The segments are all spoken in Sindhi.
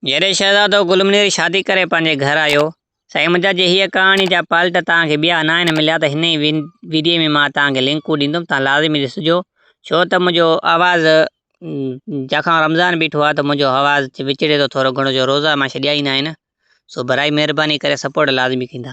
جڏهن شهزادو گل منير شادي ڪري پنهنجي گهر آيو. سائين منهنجا جي هيء ڪهاڻي جا پالٽ توهان کي ٻيا ناهن مليا ته هن ئي ويڊيو ۾ مان توهان کي لنڪون ڏيندم توهان لازمي ڏسجو ڇو ته منهنجو آواز جاکان رمضان بيٺو آهي ته منهنجو آواز وچڙي ٿو ٿورو گهڻو جو روزا مان ڇڏيا ئي ناهن سو براي مهرباني ڪري سپورٽ لازمي ڪندا.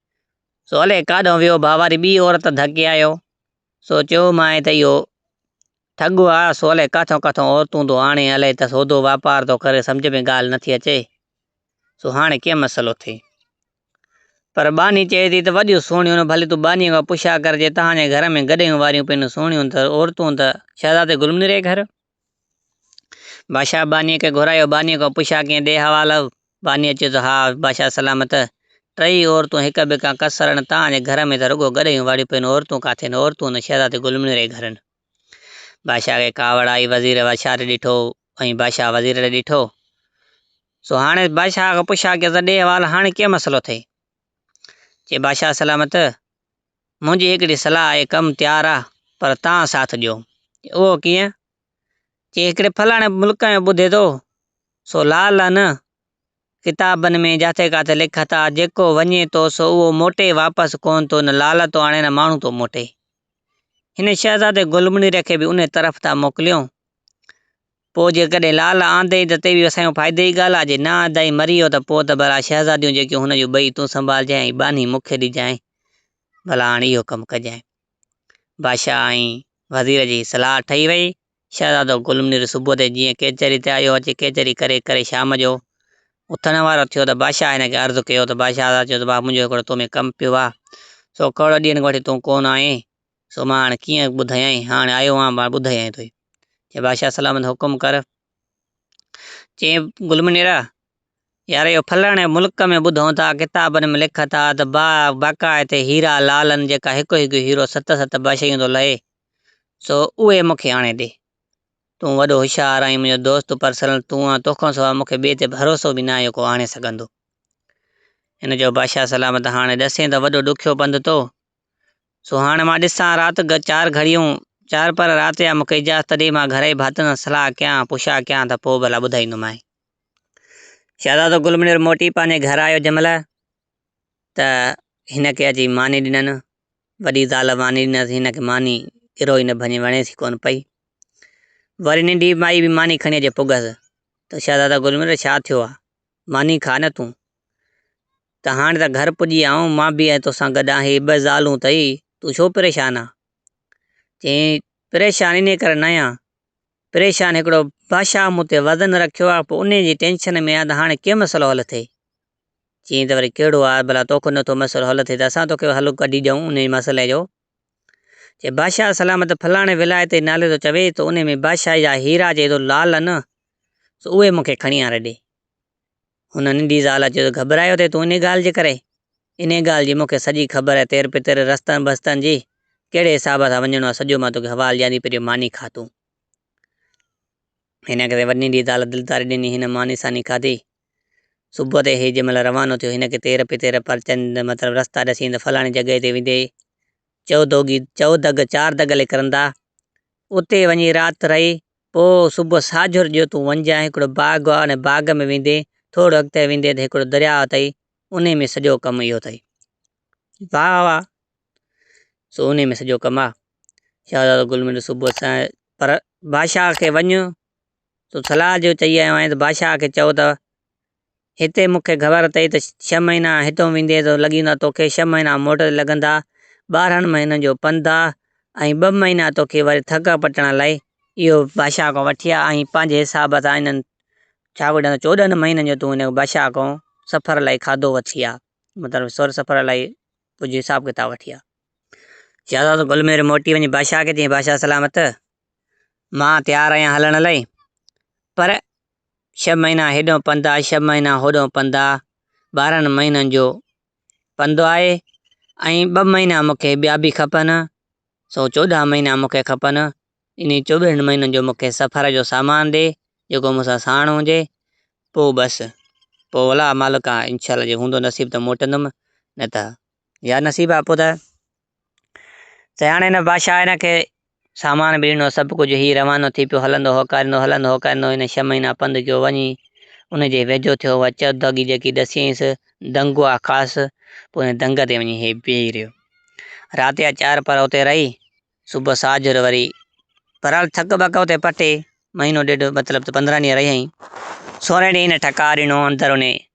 سو الئي ڪاڏانهن ويو ڀا واري ٻي عورت ڌڪي آيو سو چيومانء ته اهو ٺڳ آ سو الئي ڪاٿئون ڪاٿئون عورتون ٿو آڻي الئي ته سودو واپار ٿو ڪري سمجهه ۾ ڳالهه نٿي اچي سو هاڻي ڪيئن مسئلو ٿئي پر ٻانهي چئي ٿي ته وڏيون سهڻيون ڀلي تون ٻانهي کان پڇا ڪر جي تهان جي گهر ۾ گڏهيون واريون پينون سهڻيون ته عورتون ته شهزادي گلمنير جي گهر بادشاهه بانيء کي گهرايو، بانيء کان پڇيا ڪئين ڏي حوال اهو؟ بانيء چيو ته ها بادشاهه سلامت. ٽيئي عورتون هڪ ٻئي کان ڪسرن تان ۽ گهر ۾ ته رڳو گڏهيون واڙيون پيون عورتون ڪاٿي نه عورتون ان شهزادي گل ميري جي گهرن. بادشاهه کي ڪاوڙ آئي وزير بادشاهه ڏي ڏٺو ۽ بادشاهه وزير ڏي ڏٺو. سو هاڻيس بادشاهه کان پڇيا ڪيس ته ڏي حوال هاڻي ڪئين مسئلو اٿئي؟ چي بادشاهه سلامت. منهنجي هڪڙي صلاح آهي، ڪم تيار آ پر توهان ساٿ ڏيو. اهو ڪيئن؟ چي هڪڙي فلاڻي ملڪ ۾ ٻڌي ٿو، سو لا لا نه. ڪتابن ۾ جاٿي ڪاٿي لک ٿا، جيڪو وڃي ٿو سو اهو موٽي واپس ڪونه ٿو، نه لعل ٿو آڻي نه ماڻهو ٿو موٽي. هن شهزادي گلمنير کي به انهي طرف ٿا موڪليون. پوء جيڪڏهن لعل آندئين ته تي به اسان جي فائدي جي ڳالهه آهي، جي نه آندائين مري ويو ته پوء ته ڀلا شهزاديون جيڪيون هن جون ٻئي تون سنڀالجانء ۽ ٻانهي مون کي ڏجانء. ڀلا هاڻ اهو ڪم ڪجانء. بادشاهه ۽ وزير جي صلاح ٺهي وئي. شهزادو گل منير صبح تي جيئن ڪيچري تي آيو اچي ڪيچري ڪري ڪري شام جو اٿڻ وارو ٿيو ته بادشاهه هن کي عرض ڪيو ته بادشاهه چيو ته واهه منهنجو هڪڙو تو ۾ ڪم پيو آهي سو ڪهڙو ڏينهن کان وٺي تون ڪونه آئين سو مان هاڻ ڪيئن ٻڌايانء، هاڻ آيو آهيان مان ٻڌايانء توکي. چيائين بادشاهه سلامت حڪم ڪر. چيائين گل منيرا! يار اهو ڦلاڻي ملڪ ۾ ٻڌون ٿا، ڪتابن ۾ لکن ٿا ته با باقاعد هيرا لعلن جيڪا هڪ هڪ هيرو ست ست باشيون ٿو لهي، سو اهي مون کي آڻي ڏي. تون وڏو هوشيار آهين، منهنجو دوست پرسنل تون آهين، تو کان سواء مون کي ٻئي تي ڀروسو به ناهي جو ڪو آڻي سگهندو. هن چيو بادشاهه سلامت هاڻ ڏسين ته وڏو ڏکيو پنڌ تو سو هاڻ مان ڏسان رات گه چار گهڙيون، چار پهر رات يا مڪي اجازت ڏي مان گهرائي ڀاتن سان صلاح ڪيان، پڇا ڪيان ته پوء ڀلا ٻڌائيندومانء. شهزادو گل منير موٽي پنهنجي گهر آيو جنهن مهل ته هن کي اچي ماني ڏنن. وڏي زال ماني ڏنس، هن کي ماني ڳرو ئي نه ڀڃي، وڻيس ئي ڪونه پئي. وري ننڍي مائي به ماني کڻي اچي پڳس ته شهزاده گل منير ڇا ٿيو آ؟ ماني کاء نه تون. ته هاڻي ته گهر پڄي آئون، مان به ۽ توسان گڏ آهن، هي ٻه زالون اٿئي، تون ڇو پريشان آهين؟ چيائين، پريشان انهيء ڪري نه آهيان، پريشان هڪڙو بادشاهه مون تي وزن رکيو آهي، پوء انهيء جي ٽينشن ۾ آهيان ته هاڻي ڪيئن مسئلو حل ٿئي؟ چيائين ته وري ڪهڙو آهي، ڀلا تو کن نٿو مسئلو حل ٿئي ته اسان توکي حل ڪڍي ڏيئون انهيء مسئلي جو. چيائين، بادشاهه سلامت ڦلاڻي ولايت جي نالي ٿو چوي، تو انهيء ۾ بادشاهي جا هيرا جي ايڏو لال آهن، سو اهي مون کي کڻي آڻي ڏي. هن ننڍي زال چيو ته گهٻرايو ٿي تون انهي ڳالهه جي ڪري؟ انهي ڳالهه جي مون کي سڄي خبر آهي تير پتر، رستن بستن جي، ڪهڙي حساب سان وڃڻو آهي سڄو مان توکي حوال ڏيان ٿي پهريون ماني کاء تون. هن کي ننڍي زال دلداري ڏني هن ماني ساني کاڌي. صبح تي هي جنهن مهل روانو ٿيو هن کي تير پتر، پرچن، مطلب رستا ڏسي ته فلاڻي جڳهه تي ويندي چؤ دوگي، چؤ دڳ، چار دڳ لي ڪرندا، اتي وڃي رات رهي پوء صبح ساجهر جو تون وڃجانء هڪڙو باغ آ ان باغ ۾ ويندين ٿورڙو اڳتي ويندين ته هڪڙو درياء اٿئي انهي ۾ سڄو ڪم اهو اٿئي. واء واء سو انهي ۾ سڄو ڪم آ. شهزادو گل مير صبح سائين پر بادشاهه کي وڃ تو صلاح جو چئي آيو آهين ته بادشاهه کي چئو ته هتي مون کي گهور اٿئي ته ڇهه مهينا هتئون ويندينء ته لڳي ويندو آ توکي ڇهه مهينا موٽ تي لڳندا، ٻارهن مهينن جو پنڌ آ ۽ ٻه مهينا توکي وري ٿڪ پٽڻ لاء اهو بادشاهه کان وٺي آ ۽ پنهنجي حساب سان انهن ڇا ڪجهه ڏنو چوڏهن مهينن جو تون هن بادشاهه کان سفر لاء کاڌو وٺي آ مطلب سر سفر لاء ڪجهه حساب ڪتاب وٺي آ. شهزادو گل مير موٽي وڃي بادشاهه کي چيائين بادشاهه سلامت مان تيار آهيان هلڻ لاء پر ڇهه مهينا هيڏانهن پنڌ آهي ڇهه مهينا هوڏانهن پنڌ آهي ٻارهن مهينن جو پنڌ آهي ۽ ٻه مهينا مونکي ٻيا به کپن سو چوڏهن مهينا مونکي کپن انهي چوٻيهن مهينن جو مونکي سفر جو سامان ڏي جيڪو مون سان ساڻ هجي پوء بس پوء ولا مالڪا انشاء الله جي هوندو نصيب ته موٽندم نه ته يا نصيبا پوء ته تي هاڻي هن بادشاهه هن کي سامان ٻيڻو سڀ ڪجهه هي روانو ٿي پيو هلندو هوڪاريندو هلندو هوڪاريندو هن ڇهه مهينا پنڌ ڪيو وڃي ان جي ويجهو ٿيو اها چوداڳي جيڪي ڏسيائينس دنگ هئا خاص پوء هن دنگ تي وڃي هي بيهي رهيو رات جا چار پر اتي رهي صبح ساجر وري بهرحال ٿڪ بڪ اتي پٽي مهينو ڏيڍ مطلب ته پندرهن ڏينهن رهي آئين سورهين ڏينهن هن ٺڪا ڏنو اندر ان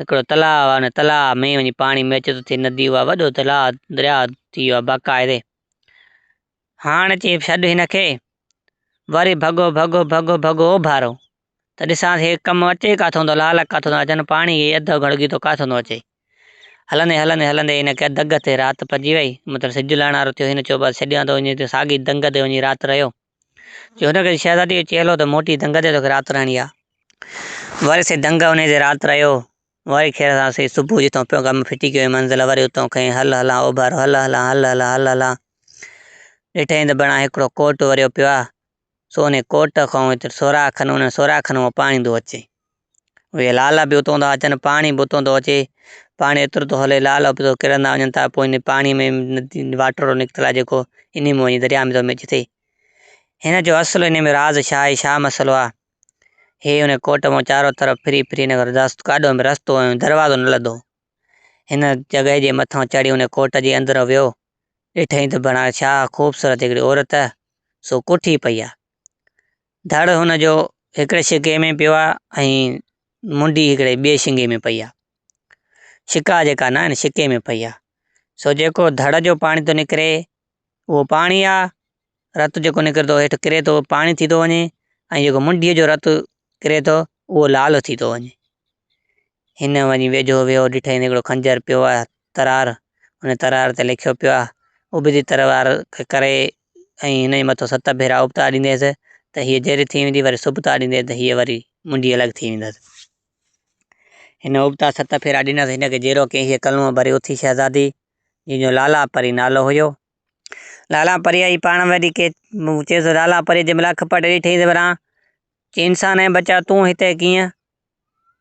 هڪڙو تلاء آهي ان تلاء ۾ وڃي پاڻي ۾ اچي ٿو ٿي ندي اها وڏو تلاء دريا ٿي ويو آهي باقاعدي هاڻ چي ڇڏ هن کي وري ڀڳو ڀڳو ڀڳو ڀڳو اوڀارو ته ڏسان هي ڪم اچي ڪاٿو ٿو لال ڪاٿو ٿو اچن پاڻي هي اڌ گڙگي ٿو ڪاٿو ٿو اچي هلندي هلندي هلندي هن کي دگ تي رات پئجي وئي مطلب سج لهڻ وارو ٿيو هن چيو بس ڇڏيان ٿو وڃي ساڳي دنگ تي وڃي رات رهيو جهونگل شهزادي جو چيلهو ته موٽي دنگ تي توکي رات رهڻي آ. وري سي دنگ انهيء تي رات رهيو. وري کير سان سي صبح جتان پيو غم ڦٽي ڪيو هي منزل وري اتان کئين هل هلان اوڀارو هل هلان هل هلان هل هلان ڏٺئين ته بڻان هڪڙو ڪوٽ وريو پيو آ سو انهي ڪوٽ کان هتي سوراخ کن انهن سوراخن مان پاڻي ايندو اچي. اهي لالا به اتان ٿا اچن پاڻي به اتان ٿو اچي پاڻي ايترو ٿو هلي لالا به ڪرندا وڃن ٿا پوء ان پاڻي ۾ واٽر نڪتل آهي جيڪو ان ۾ وڃي درياء ۾ ٿو مڪس ٿئي هن جو اصل ان ۾ راز ڇا آهي ڇا مسئلو آهي هي ان ڪوٽ مان چارو طرف ڦري ڦري هن رست ڪاڏو ۾ رستو ۽ دروازو نه لڌو هن جڳهه جي مٿان چڙهي ان ڪوٽ جي اندر ويو ڏٺائين ته بڻا ڇا خوبصورت هڪڙي عورت سو ڪوٺي پئي آهي ڌڙ هن جو هڪڙي شڪي ۾ پيو آ ۽ منڊي هڪڙي ٻئي شنگي ۾ پئي آ. شڪا جيڪا ناهن شڪي ۾ پئي آ. سو جيڪو ڌڙ جو پاڻي ٿو نڪري اهو پاڻي آ. رت جيڪو نڪرندو هيٺ ڪري ٿو پاڻي ٿي ٿو وڃي ۽ جيڪو منڊيء جو رت ڪري ٿو اهو لال ٿي ٿو وڃي. هن وڃي ويجهو ويو ڏٺائين ته هڪڙو خنجر پيو آ ترار ان ترار تي لکيو پيو آ ابدي ترار کي ڪري ۽ هن جي مٿو ست ڀيرا ابتار ڏينديس ته هيء جهري ٿي ويندي، وري سبتار ڏينديس ته هيء وري منڊي الڳ ٿي ويندس. هن ابتار ست ڦيرا ڏنس، هن کي جهرو ڪيائين، هيء ڪلونء ڀري اٿي شهزادي، جنهن جو لالا پري نالو هيو. لالا پريء ئي پاڻ وري چيس، لالا پريء جنهن مهل اک پٽي ڏٺيائينس، وران چيائين، انسان اي بچا! تون هتي ڪيئن؟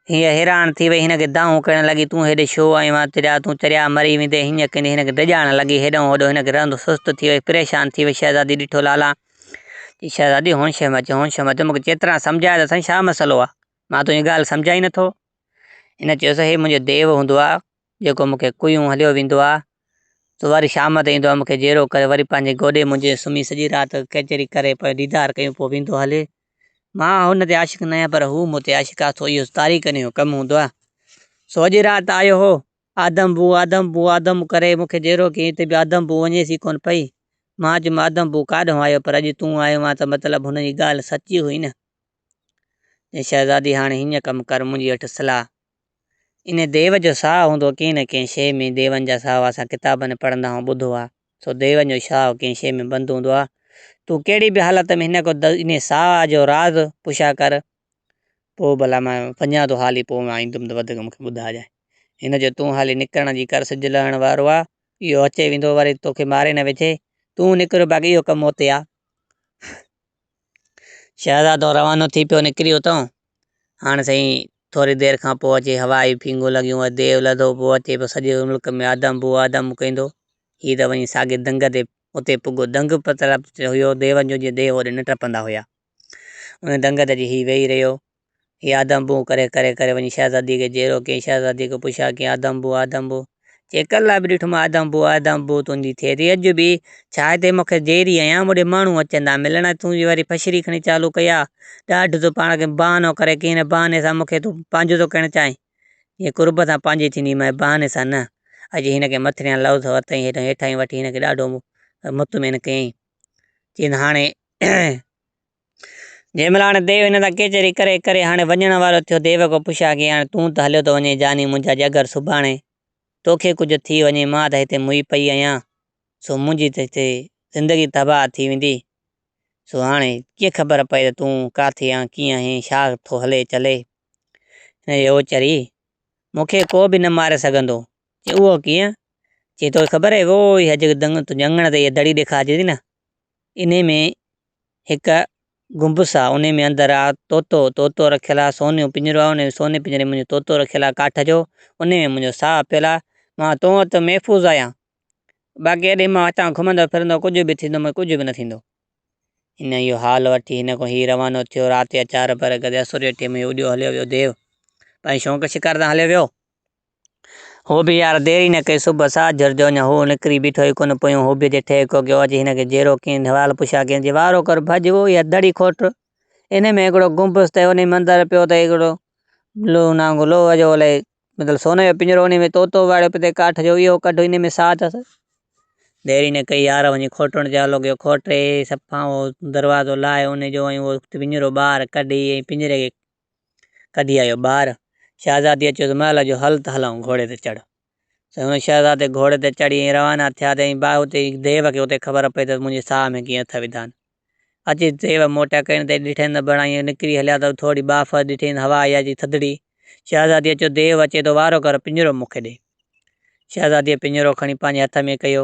هيء حيران ٿي وئي، هن کي دانهون ڪرڻ لڳي، تون هيڏي ڇو آيو آهين؟ تريا، تون تريا مري ويندين. هينئن ڪندي هن کي ڊڄاڻ لڳي. هيڏانهون هوڏانهون هن کي رئندو سست ٿي ويس. پريشان ٿي ويس. شهزادي ڏٺو لالا! چي، شهزادي هونش ۾ اچ، هونش ۾ اچ، مون کي چڱي طرح سمجهاء ته سهين ڇا مسئلو آهي؟ مان تنهنجي ڳالهه سمجهان ئي نٿو. هن چيس، هي منهنجو ديو هوندو آهي. جيڪو مون کي ڪويون هليو ويندو آ سو وري شام تي ايندو آ مون کي جيرو ڪري وري پنهنجي گوڏي منجهه سمهي سڄي رات ڪچهري ڪري پوء ديدار ڪيون پوء ويندو هلي مان هن تي عاشق نه آهيان پر هو مون تي عاشق آ سو اهو تاريڪن جو ڪم هوندو آ سو اڄ رات آيو هو آدم بو آدم بو آدم ڪري مون کي جيرو ڪيائين ته به آدم بو وڃيس ئي ڪونه پئي مان چيم آدم بو ڪاڏهون آيو پر اڄ تون آيو آن ته مطلب هن جي ڳالهه سچي هئي نه ۽ شهزادي هاڻي هيئن ڪم ڪر منهنجي هٺ صلاح ان ديو جو ساهه هوندو ڪنهن نه ڪنهن شيء ۾ ديون جا ساهه اسان ڪتابن ۾ پڙهندا آهيون ٻڌو آهي سو ديون جو شاهه ڪنهن شيء ۾ بند هوندو آهي تون ڪهڙي به حالت ۾ هن کان ان ساهه جو راز پڇا ڪر پوء ڀلا مان وڃان ٿو هالي پوء مان ايندم ته وڌيڪ مون کي ٻڌائجانء هن جو تون هالي نڪرڻ جي ڪر سج لهڻ وارو آهي اهو اچي ويندو وري توکي ماري نه وجهي تون نڪر باقي اهو ڪم اتي آهي شهزادو روانو ٿي پيو نڪري اتان. هاڻ سائين ٿوري دير کان پوء اچي هوا آيون ڦينگون لڳيون ۽ ديو لڌو پوء اچي پيو سڄي ملڪ ۾ آدم بو آدم ڪيندو. هي ته وڃي ساڳي دنگ تي اتي پڳو. دنگ به طرف هيو ديون جو جيئن ديو هوڏي نه ٽپندا هيا. ان دنگ تي اچي هي ويهي رهيو. هي آدم بون ڪري ڪري ڪري وڃي شهزادي کي جيرو ڪيائين شهزادي کي پڇيا ڪيائين آدم بون آدم بون چيڪر لاء به ڏٺو مان آدم بون آدم بون تنهنجي ٿئي ٿي اڄ به ڇا هتي مون کي جيري آهيان مون ڏي ماڻهو اچن ٿا ملڻ ۽ تون جي وري فشري کڻي چالو ڪئي آ ڏاڍ تون پاڻ کي بهانو ڪري ڪنهن نه بهاني سان مون کي تون پنهنجو ٿو ڪرڻ چاهين جيئن قرب سان پنهنجي ٿيندي مئي بهاني سان نه اڄ هن کي مٿريان لفظ ورتائين هيٺان هيٺاهين وٺي هن کي ڏاڍو مطمئن ڪيائين چين هاڻي جيمل هاڻي ديو هن سان ڪيچري ڪري ڪري هاڻي وڃڻ وارو ٿيو. ديو کي پڇيا ڪي هاڻي تون ته هليو ٿو وڃين جاني منهنجا جگر سڀاڻي توکي ڪجهه ٿي وڃي مان ته هتي موئي پئي آهيان سو منهنجي ته هتي زندگي تباهه ٿي ويندي سو هاڻي ڪيئن خبر پئي ته تون ڪاٿي آن ڪيئن آهين ڇا ٿو هلي چلي هن چيو چري مونکي ڪو به نه ماري سگهندو چي اهو ڪيئن چي توکي خبر اهي ووئي هجڪ دنگ تون جهنگڻ تي اهي دڙي ڏيکارجي ٿي نه انهي ۾ هڪ گنبس آ انهي ۾ اندر آ طوطو طوطو رکيل آ سونيون پڃرو آ انهي ۾ سوني پڃري ۾ منهنجو طوطو رکيل آ ڪاٺ جو انهي ۾ منهنجو ساهه پيل آ مان تو وٽ محفوظ آهيان باقي هيڏي مان هتان گهمندو ڦرندو ڪجهه به ٿيندو مون کي ڪجهه به نه ٿيندو. هن اهو حال وٺي هن کان هي روانو ٿيو رات جا چار پهر گذريا سوريٺي ۾ اڏيو هليو ويو ديو پنهنجي شونق شڪار تان هليو ويو هو به يار دير ئي نه ڪئي، صبح ساهه جهر جو اڃا هو نڪري بيٺو ئي ڪونه، پويون هو به جي ٺهڪو ڪيو، اچ هن کي جيرو ڪين، نوال پڇيا ڪين، جي وارو ڪر ڀڄ وو يا دڙي کوٽ، انهي ۾ هڪڙو گنبذ ته انهي مندر پيو ته هڪڙو لوهه نانگو لوهه جو الائي مطلب سوني جو پڃرو انهي ۾ طوطو واڙيو پيو تي ڪاٺ جو اهو ڪڍ انهي ۾ ساهه اٿس. دير ئي نه ڪئي يار وڃي کوٽڻ تي آلو ڪيو، کوٽي صفا اهو دروازو لاهي انهي جو ۽ اهو پڃرو ٻاهر ڪڍي ۽ پڃري کي ڪڍي آيو ٻاهر. شهزاديء چيس، مهل جو هل ته هلئون، گهوڙي تي چڙهه. سائين هن شهزادي گهوڙي تي چڙهي ائين روانا ٿيا ته ائين باهه اتي ديو کي اتي خبر پئي ته منهنجي ساهه ۾ ڪيئن اٿ وڌان. اچي ديو موٽيا ڪين ته ڏٺين ته بڻا ائين نڪري هليا ته ٿورڙي باهه ڦر ڏٺين ته هوا آئي آهي چي ٿڌڙي. شهزاديء چيو، ديو اچي ٿو وارو ڪر، پڃرو مون کي ڏي. شهزاديء پڃرو کڻي پنهنجي هٿ ۾ ڪيو.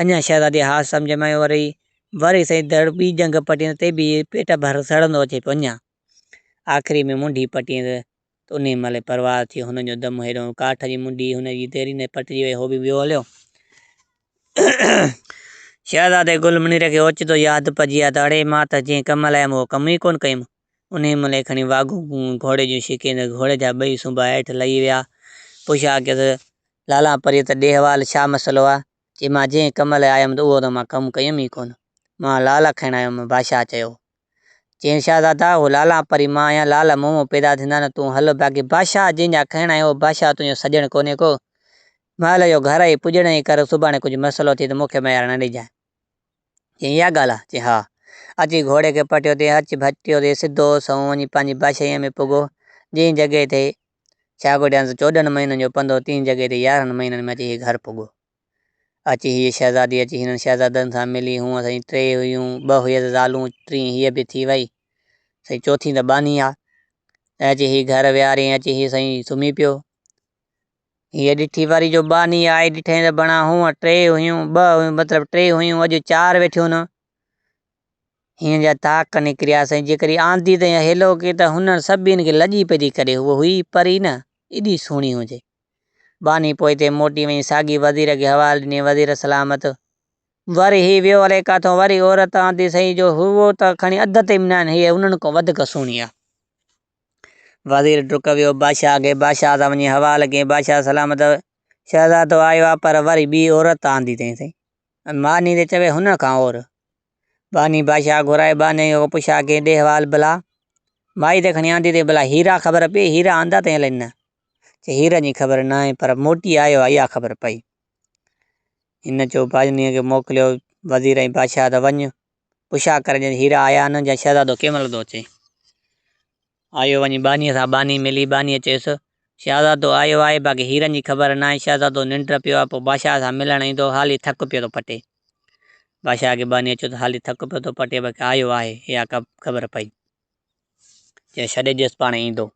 اڃا شهزادي اها سمجهه ۾ آيو رهي، وري سائين دڙ ٻي ڄنگهه پٽيندس تي به پيٽ ڀر سڙندو اچي پيو اڃا آخري ۾ منڍي پٽيندس ته انهي مهل پرواز ٿيو هن جو دم هيڏو هو ڪاٺ جي منڍي هن جي ديري ۾ پٽجي وئي هو به ويو هليو. شهزادي گل منير کي اوچتو ياد پئجي آيو ته اڙي مان ته جنهن ڪم لاء هيم اهو ڪم ئي ڪونه ڪيم انهيء مهل ئي کڻي واڳون گهوڙي جون شڪي ته گهوڙي جا ٻئي سنبا هيٺ لهي ويا. پوء شاهه چيس، لالا پريء ته ڏي حوال ڇا مسئلو آهي؟ چي، مان جنهن ڪم لاء آيم ته اهو ته مان ڪم ڪيم ئي ڪونه. مان لالا کڻڻ آيو هوم. بادشاهه چيو. چيائين، شاهزادا! اهو لالا پري مان آهيان، لالا مون مان پيدا ٿيندا نه تون هل. باقي بادشاهه جنهن جا کڻڻ آئين اهو بادشاهه تنهنجو سڄڻ ڪونهي ڪو. مهل جو گهر آهي، پڄڻ ئي ڪر، سڀاڻي ڪجهه مسئلو ٿئي ته مون کي ميار نه ڏجانء. چيائين، اها ڳالهه آ؟ چيائين، ها. اچي گهوڙي کي پٽيو تي هچ ڀچيو تي سڌو سنئون وڃي پنهنجي بشيء ۾ پڳو، جنهن جڳهه تي شاگو ڏيانس چوڏهن مهينن جو پنڌ هو، تنهن جڳهه تي يارهن مهينن ۾ اچي هيء گهر پڳو. اچي هيء شهزادي اچي هنن شهزادن سان ملي، هونء سائين ٽي هيون، ٻه هيس زالون، ٽين هيء به ٿي وئي، سائين چوٿين ته ٻانهي آ. ۽ اچي هيء گهر ويهاريائين، اچي هيء سائين سمهي پيو. هيء ڏٺي واري جو ٻانهي آئي، ڏٺئي ته بڻا هونء ٽي هيون، ٻه هيون، مطلب ٽي هيون، اڄ چار ويٺيون نه! هنن جا تاڪ نڪريا سئي، جيڪڏهن آندي تائين هيلو ڪي ته هنن سڀيئن کي لڄي پئجي ڪري، هوء هئي پري نه، ايڏي سهڻي هجي. ٻانهي پوئتي موٽي وڃي ساڳي وزير کي حوالو ڏني، وزير سلامت! وري هي ويو الائي ڪاٿئون، وري عورت آندي سئي، جو هوء ته کڻي اڌ تي به ناهن، هيء هنن کان وڌيڪ سهڻي آ. وزير ڊڪ ويو بادشاهه کي بادشاهه سان وڃي حوال ڪيائين بادشاهه سلامت شهزادو آيو آ پر وري ٻي عورت آندي اٿئي سائين ماني تي چوي هن کان اور باني بادشاهه گهرائي باني کي پڇا ڪيائين ڏي حوال بلا مائي ته کڻي آندي اٿئي بلا هيرا خبر پئي هيرا آندا اٿئي الائي نه چي هيرن جي خبر نه آهي پر موٽي آيو آ اها خبر پئي هن چيو باني کي موڪليو وزير ۽ بادشاهه ته وڃ پڇا ڪري جئن هيرا آيا آهن يا شهزادو ڪنهن مهل ٿو اچي؟ آيو وڃي ٻانهيء سان ٻانهي ملي، ٻانهيء چيس، شهزادو آيو آهي، باقي هيرن جي خبر ناهي، شهزادو ننڊ پيو آهي، پوء بادشاهه سان ملڻ ايندو، هالي ٿڪ پيو ٿو پٽي. بادشاهه کي ٻانهيء چيو ته هالي ٿڪ پيو ٿو پٽي، باقي آيو آهي، اها خبر پئي. چيو ڇڏي ڏيس پاڻهي ايندو.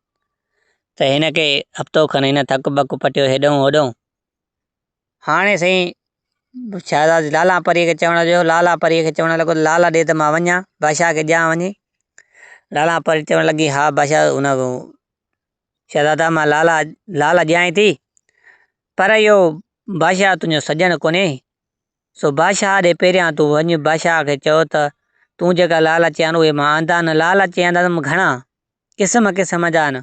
ته هن کي هفتو کن هن ٿڪ بڪ پٽيو هيڏهون هوڏهون، هاڻي سائين شهزاد لالا پريء کي چوڻ لڳو، لالا پريء کي چوڻ لڳو ته لالا ڏي ته مان وڃان، بادشاهه کي ڏيان وڃي، لالا پري چوڻ لڳي ها بادشاهه شهزادا مان لالا لالا ڏيانء ٿي پر اهو بادشاهه تنهنجو سڄڻ ڪونهي، سو بادشاهه ڏي پهريان تون وڃ، بادشاهه کي چئو ته تون جيڪا لالا چيان اهي مان آندا، نه لالا چيان ته مان گهڻا قسم قسم جا آهن.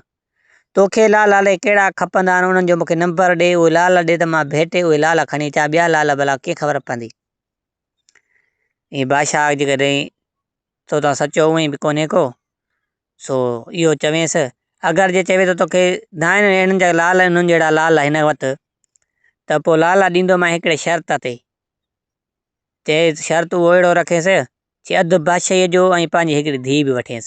توکي لال الائي ڪهڙا کپندا آهن، انهن جو مون کي نمبر ڏي، اهي لال ڏي ته مان ڀيٽي اهي لال کڻي اچان، ٻيا لال ڀلا ڪيئن خبر پوندي. اي بادشاهه جيڪڏهن تو تان سچو هئين به ڪونهي ڪو، سو اهو چوينس، اگر جي چوي ٿو توکي دانهن اهڙن جا لال ۽ انهن جهڙا لال هن وٽ، ته پوء لال ڏيندومانء هڪڙي شرط تي. چيس، شرط اهو اهڙو رکيس، چي اڌ بادشاهيء جو ۽ پنهنجي هڪڙي ڌيء به وٺينس.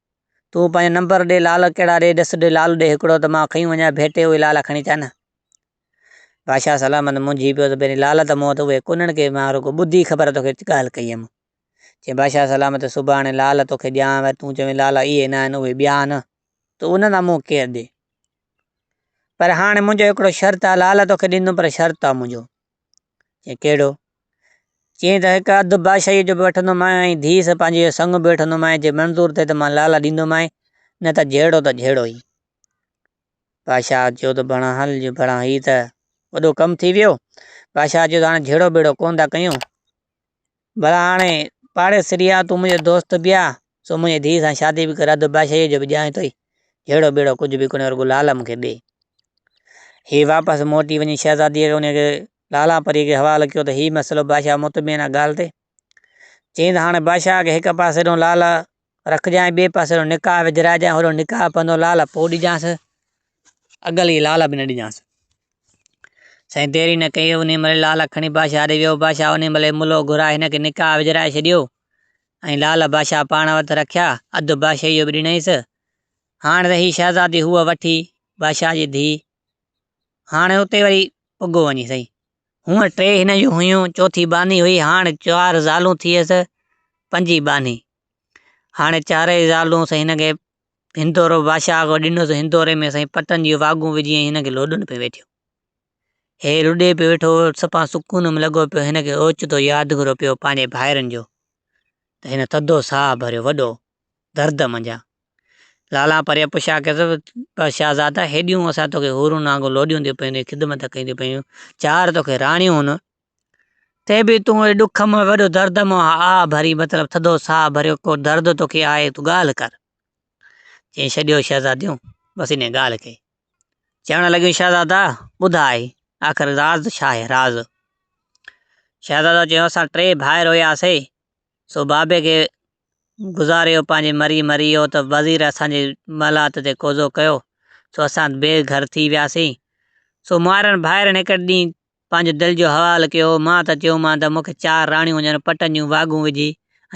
تون پنهنجو نمبر ڏي لال ڪهڙا ڏي ڏس ڏي لال ڏي هڪڙو ته مان کنيون وڃان ڀيٽي اهي لالا کڻي ٿا نه. بادشاهه سلامت منجهي پيو ته پهرين لالا ته مون وٽ اهي ڪونهن ڪي مان رڳو ٻڌي خبر توکي ڳالهه ڪئي هيم. چيائين بادشاهه سلامت سڀاڻي لال توکي ڏيان ور تون چوين لالا اهي نه آهن اهي ٻيا آهن ته انهن لاء مون ڪير ڏي. پر هاڻي منهنجو هڪڙو شرط آهي لال توکي ڏيندم پر شرط آهي منهنجو. چيائين ڪهڙو؟ چيائين ته هڪ اڌ بادشاهيء جو به وٺندومانء ۽ ڌيء سان پنهنجي جو سڱ به وٺندومانء، جي منظور ٿئي ته مان لالا ڏيندومانء، نه ته جهيڙو ته جهيڙو ئي. بادشاهه چيو ته ڀڻا هل جو ڀڻا هي ته وڏو ڪم ٿي ويو. بادشاهه چيو ته هاڻي جهيڙو ٻيڙو ڪونه ٿا ڪيون. ڀلا هاڻي پاڙيسري آهين تون منهنجو دوست به آهين، سو منهنجي ڌيء سان شادي به ڪر اڌ بادشاهيء جو به ڏيانء ٿو ئي. جهيڙو ٻيڙو ڪجهه به ڪونهي رڳو لعل مون کي ڏي. هيء واپس موٽي وڃي شهزاديء کي انهيء کي لالا پريء کي حوالو ڪيو ته هيء مسئلو بادشاهه مطمئن آهي ڳالهه تي. چيائين ته هاڻي بادشاهه کي هڪ پاسي ڏانهن لعل رکجانء ٻئي پاسي رو نڪاح وجهرائجانء هورو نڪاح پنڌو لعل پوء ڏجانس. اڳل ئي لعل به نه ڏجانس. سائين دير ئي نه ڪئي انهي مهل لعل کڻي بادشاهه ڏي ويو. بادشاهه انهي مهل ئي ملهو گهرائي هن کي نڪاح وجهرائي ڇڏيو ۽ لعل بادشاهه پاڻ وٽ رکيا. اڌ بادشاهي جو به ڏنائينس. هاڻ ته هي شهزادي هوء وٺي بادشاهه جي ڌيء. هاڻ اتي وري پڳو وڃي سائين. هونء ٽي هن جون هيون، چوٿي ٻانهي هئي، هاڻ چار زالون ٿيس، پنجين ٻانهي. هاڻي چارئي زالون سائين هن کي هندورو بادشاهه آگو ڏنو سو هندوري ۾ سائين پٽن جون واڳون وجهي ۽ هن کي لوڏن پيو ويٺيو هي لڏي پيو ويٺو سپا سڪون ۾ لڳو پيو هن کي اوچتو ياد گهرو پيو پنهنجي ڀائرن جو ته هن ٿڌو ساهه ڀريو وڏو درد منجا لالا پري پڇا ڪيس شاهزادا هيڏيون اسان توکي هورون نانگو لوڏيون ٿيون پيون خدمت ڪيون ٿيون پيون چار توکي راڻيون هن ٿئي به تون اي ڏک م وڏو درد م آ، آ ڀري مطلب ٿڌو ساهه ڀريو ڪو درد توکي آهي تون ڳالهه ڪر. چئي ڇڏيو شهزاديون بس انهيء ڳالهه کي. چوڻ لڳيون شهزادا ٻڌاء آخر راز ڇا آهي راز. شهزادو چيو اسان ٽي ڀائر هياسي سو بابي کي گذاريو پنهنجي مري مري ويو ته وزير اسان جي محلات تي قوضو ڪيو سو اسان بي گهر ٿي وياسين سو مائرن ڀائرن هڪڙي ڏينهن پنهنجي دل جو حوال ڪيو، مان ته چيومان ته مون کي چار راڻيون هجن پٽن جون واڳون وجهي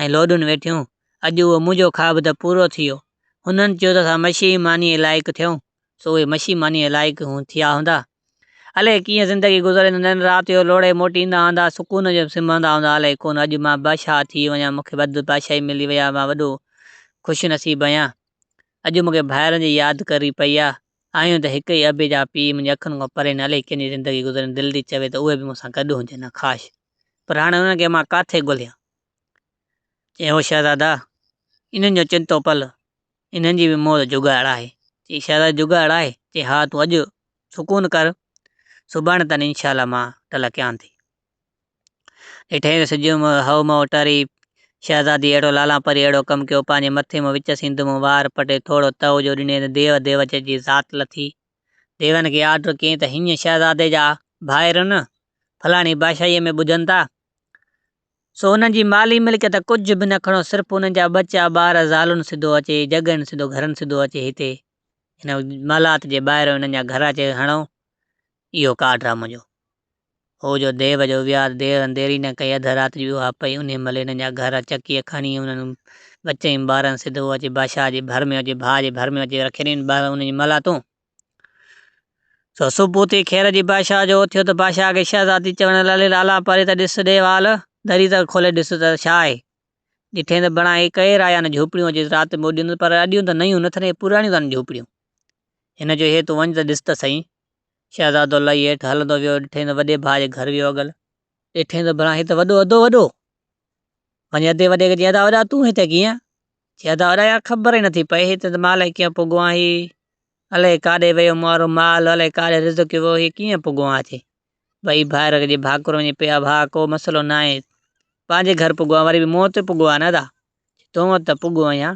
۽ لوڏن ويٺيون. اڄ اهو منهنجو خواب ته پورو ٿي ويو. هنن چيو ته اسان مشي مانيء لائق ٿيون، سو اهي مشي مانيء لائق ٿيا هوندا. الئي ڪيئن زندگي گذري هوندا ۽ رات جو لوڙهي موٽي ايندا هوندا، سڪون جو سمهندا هوندا. الئي ڪونه اڄ مان بادشاهه ٿي وڃان، مون کي وڌ بادشاهي ملي وئي آهي، مان وڏو خوش نصيب آهيان. اڄ مون کي ڀائرن جي ياد ڪري پئي آهي. آهيون ته هڪ ئي ابي جا پيء منهنجي اکين کان پري نه الائي ڪيئن جي زندگي گذرين دل ٿي چوي ته اهي به مون سان گڏ هجن ها ڪاش! پر هاڻي انهن کي مان ڪاٿي ڳوليان؟ چيائين هو شهزادا! انهن جو چتو پل انهن جي به موت جوڳائڙ آهي. چيائين شهزادا جوڳائڙ آهي؟ چيائين ها تون اڄ سڪون ڪر سڀاڻي تان انشاء الله مان ٽلڪيان ٿي. ڏٺئي ته سڄو مون هئو مئو ٽري. شهزادي اهڙو لالان پري اهڙو ڪم ڪيو، پنهنجي مٿي مون وچ سين دمون وار پٽي ٿورو تئو جو ڏني ته ديو ديو چئجي ذات لٿي. ديون کي آرڊر ڪيئين ته هينئن شهزادي جا ڀائرن فلاڻي بادشاهيء ۾ ٻڌن ٿا، سو انهن جي مالي ملڪيت ڪجهه به نه کڻو، صرف انهن جا ٻچا ٻار زالون سڌو اچي جڳهين سڌو گهرن سڌو اچي هتي هن محلات جي ٻاهريون انهن جا گهر اچي هڻو. اهو ڪارڊ آ منهنجو. هو جو ديو جو ويار دير انديري نه ڪئي اڌ رات جي اها پئي انهي مهل هنن جا گهر چڪيء کڻي انهن ٻچئين ٻارن سڌو اچي بادشاهه جي ڀر ۾ اچي ڀاء جي ڀر ۾ اچي رکي ڏنين ٻارن انهن جي ملا تون سو صبح اٿي خير جي بادشاهه جو اٿيو ته بادشاهه کي شهزادي چوڻ لالي لالا پري ته ڏس ڏي وال دري ته کولي ڏس ته ڇا آهي ڏٺين ته بڻائي ڪئي رايان جهوپڙيون اچي رات موڏيون ته پر اڏيون ته نيون نٿن اهي پراڻيون تن جهوپڙيون هن چيو هي تون وڃ ته ڏس ته سهي شهزادو لهي هيٺ هلندو ويو، ڏٺئين ته وڏي ڀاء جي گهر ويو اڳل. ڏٺئين ته بران هي ته وڏو اڌو وڏو. وڃي اڌي وڏي کي چيائين ادا وڏا تون هتي ڪيئن؟ چيائين ادا وڏا يار خبر ئي نٿي پئي هتي ته مان الائي ڪيئن پڳو آهيان هي الائي ڪاڏي ويو مون وارو مال الائي ڪاڏي رزق ويو هي ڪيئن پڳو آهيان هتي. ٻئي ڀائر جي ڀاڪر وڃي پيا ڀاء ڪو مسئلو ناهي پنهنجي گهر پڳو آهيان وري به مون وٽ پڳو آهيان نه ادا. چيائين تون وٽ ته پڳو آهيان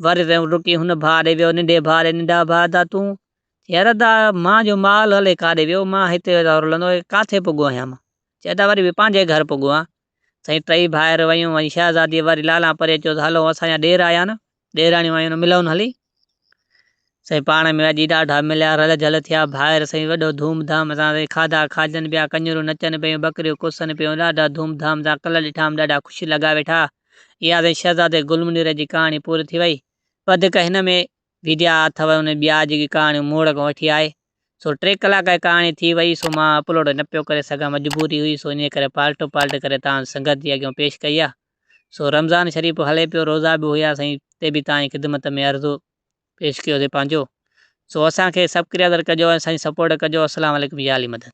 وري ويم رڪي هن ڀاء ڏي ويو ننڍي ڀاء ڏي ننڍا ڀاء ادا تون چي يار ادا مان جو مال هلي ڪاڏي ويو مان هتي ادا رلندو ڪاٿي پگهو آهيان مان چي ادا وري به پنهنجي گهر پگهو آهيان سائين ٽئي ڀائر ويون ۽ شهزادي وري لالان پري چيو ته هلو اسان جا ڏير آيا نه ڏيراڻيون آيون نه ملون هلي سائين پاڻ ۾ اڄي ڏاڍا مليا رل جھل ٿيا ڀائر سائين وڏو ڌوم ڌام سان سائين کاڌا کاجن پيا ڪڃرون نچن پيون ٻڪريون ڪسن پيون ڏاڍا ڌوم ڌام سان ڪلر ڏٺام ڏاڍا خوشي لڳا ويٺا اها سائين شهزادي گل منير جي ڪهاڻي پوري ٿي وئي وڌيڪ هن ۾ ويديا اٿو ان ٻيا جيڪي ڪهاڻيون موڙ کان وٺي آهي سو ٽي ڪلاڪ جي ڪهاڻي ٿي وئي سو مان اپلوڊ نه پيو ڪري سگهان مجبوري هئي سو انهي ڪري پالٽو پالٽ ڪري توهان سنگت جي اڳيون پيش ڪئي آهي سو رمضان شريف هلي پيو روزا به هيا سائين تي به توهان جي خدمت ۾ عرض پيش ڪيو سي پنهنجو سو اسان کي سبڪريادر ڪجو ۽ سائين سپورٽ ڪجو اسلام عليڪم يا علي مدد.